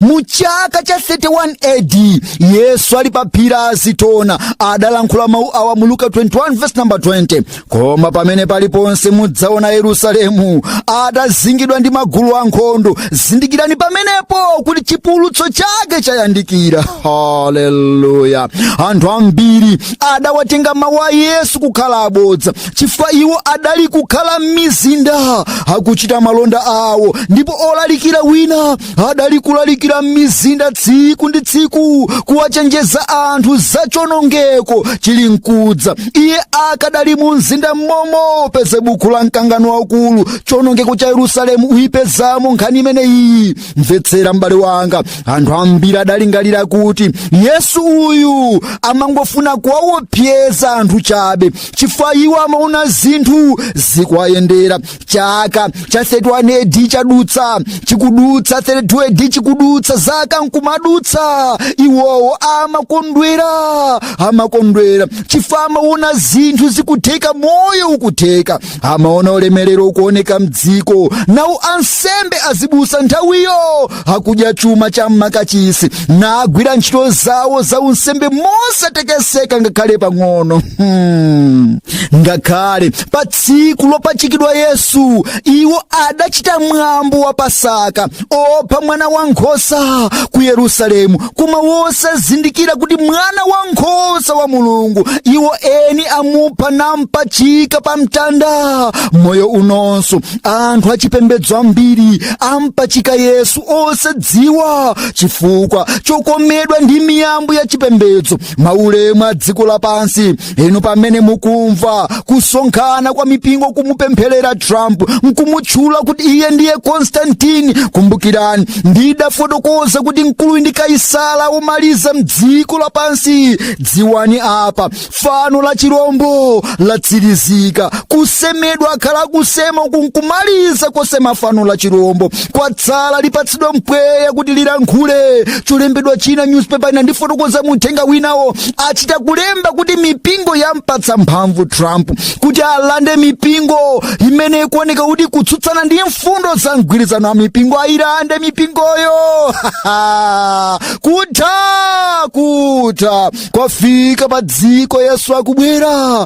mu chaka cha 31 AD yesu ali pa phiri la azitona adalankhula mawu awa mu luka 21 verse number 20 koma pamene paliponse mudzaona yerusalemu atazingidwa ndi magulu ankhondo zindikirani pamenepo kuti chipululutso chake chayandikira haleluya anthu ambiri adawatenga mawu a yesu kukhala abodza chifukwa iwo adali kukhala m'mizinda akuchita malonda awo ndipo olalikira wina adali kulalikira m'mizinda tsiku ndi tsiku kuwachenjeza anthu za chonongeko chili mkudza iye akadali mu mzinda mmomo pezani buku la mkangano waukulu chonongeko cha yerusalemu muyipezamo nkhani imeneyi mvetsera m'bale wanga anthu ambiri adalingalira kuti yesu uyu amangofuna kuwawopseza anthu chabe chifukwa iwo amaona zinthu zikuwayendera chaka cha 31 AD chadutsa chikudutsa 32 AD chikudutsa zaka nkumadutsa iwowo amakondwera amakondwera chifukwa amaona zinthu zikutheka moyo ukutheka amaona ulemerero ukuoneka mdziko nawo ansembe azibusa nthawiyo akudya chuma cha m'makachisi nagwira ntchito zawo za unsembe mosatekeseka ngakhale pang'ono hmm. ngakhale pa tsiku lopachikidwa yesu iwo adachita mwambo wa pasaka opha mwana wa nkhosa ku yerusalemu koma wosazindikira kuti mwana wa nkhosa wa mulungu iwo eni amupha nampachika pa mtanda moyo unonso anthu achipembedzo ambiri ampachika yesu osadziwa chifukwa chokomedwa ndi miyambo ya chipembedzo maulemu a dziko lapansi inu pamene mukumva kusonkhana kwa mipingo kumupempherera trump nkumutchula kuti iye ndiye Constantine kumbukirani ndidafotokoza kuti mkuluyu ndi kaisala womaliza mdziko lapansi dziwani apa fano la chirombo latsirizika kusemedwa akhala akusema uku nkumaliza kusema fano la chirombo kwatsala lipatsidwa mpweya kuti lilankhule cholembedwa china newspaper ina ndifotokoza mu uthenga winawo achita kulemba kuti mipingo yampatsa mphamvu trump kuti alande mipingo imene ikuoneka kuti ikutsutsana ndi mfundo za mgwirizano wa mipingo ayilande mipingoyo kutha kwafika pa dziko yesu akubwera